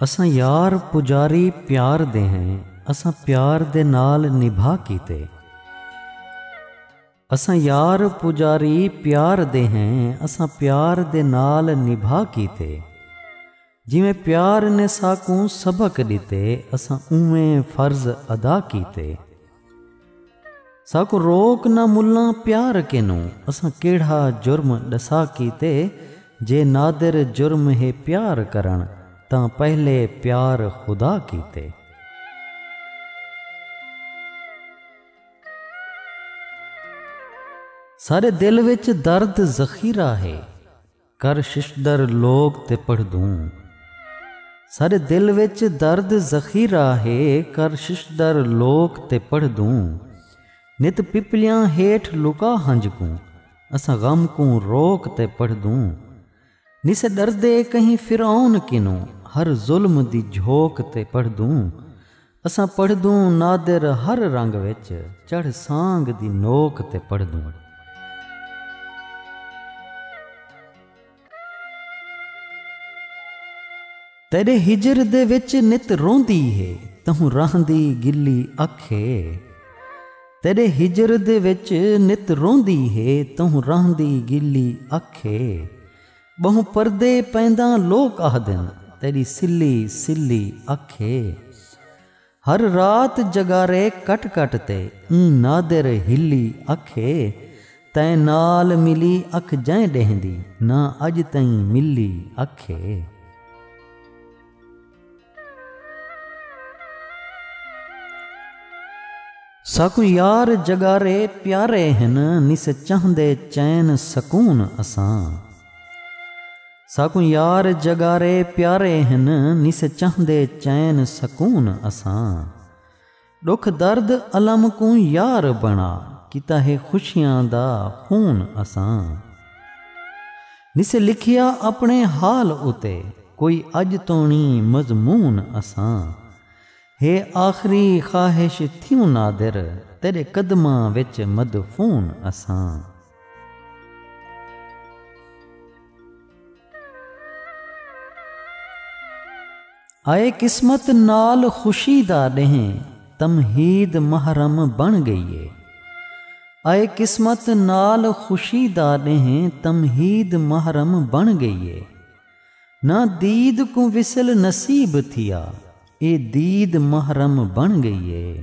اساں یار پجاری پیار دے ہیں اساں پیار دے نال نبھا کیتے اساں یار پجاری پیار دے ہیں اساں پیار دے نال نبھا کیتے جیویں پیار نے ساکوں سبق ݙتے اساں اونویں فرض ادا کیتے ساکوں روک نہ ملاں پیار کنوں اساں کیڑھا جرم ݙسا کیتے جے نادر جرم ہے پیار کرݨ تاں پہلے پیار خدا کیتے۔ ساݙے دل وچ درد ذخیرہ ہے۔ کر ششدر لوک تے پڑھدوں۔ ساڈے دل وچ درد ذخیرہ ہے کر ششدر لوک تے پڑھدوں۔ نت پپلیاں ہیٹھ لکا ہنج کوں اساں غم کوں روک تے پڑھدوں۔ نسے ڈردے کہیں فرعون کنوں ہر ظلم دی جھوک تے پڑھدوں۔ اساں پڑھدوں نادر ہر رنگ وچ چڑھ سانگھ دی نوک تے پڑھدوں۔ تیڈے ہجر دے وچ نت روندی ہے تہوں رہندی گلی اکھ ہے۔ تیڈے ہجر دے وچ نت روندی ہے تہوں رہندی گلی اکھ ہے۔ ٻہوں پردے پینداں لوک آہدن تیݙی سلی سلی اکھ اے ہر رات جگارے کٹ کٹ تے ایں نادر ہلی اکھ اے تیں نال ملی اکھ جئیں ݙینہہ دی نہ اڄ تئیں ملی اکھ اے۔ ساکوں یار جگارے پیارے ہن نس چہندے چین سکون اساں۔ ساکوں یار جگارے پیارے ہن نس چہندے چین سکون اساں۔ ݙکھ درد الم کوں یار بݨا کیتا ہے خوشیاں دا خون اساں نسے لکھیا اپݨے حال اتے کوئی اڄ توݨی مضمون اساں ہے آخری خواہش تھیوں نادر تیݙے قدماں وچ مدفون اساں۔ اے قسمت نال خوشی دا ݙینہ تمہید محرم بݨ ڳئی اے اے قسمت نال خوشی دا ݙینہ تمہید محرم بݨ ڳئی اے نہ دید کوں وصل نصیب تھیا اے دید محرم بݨ ڳئی اے۔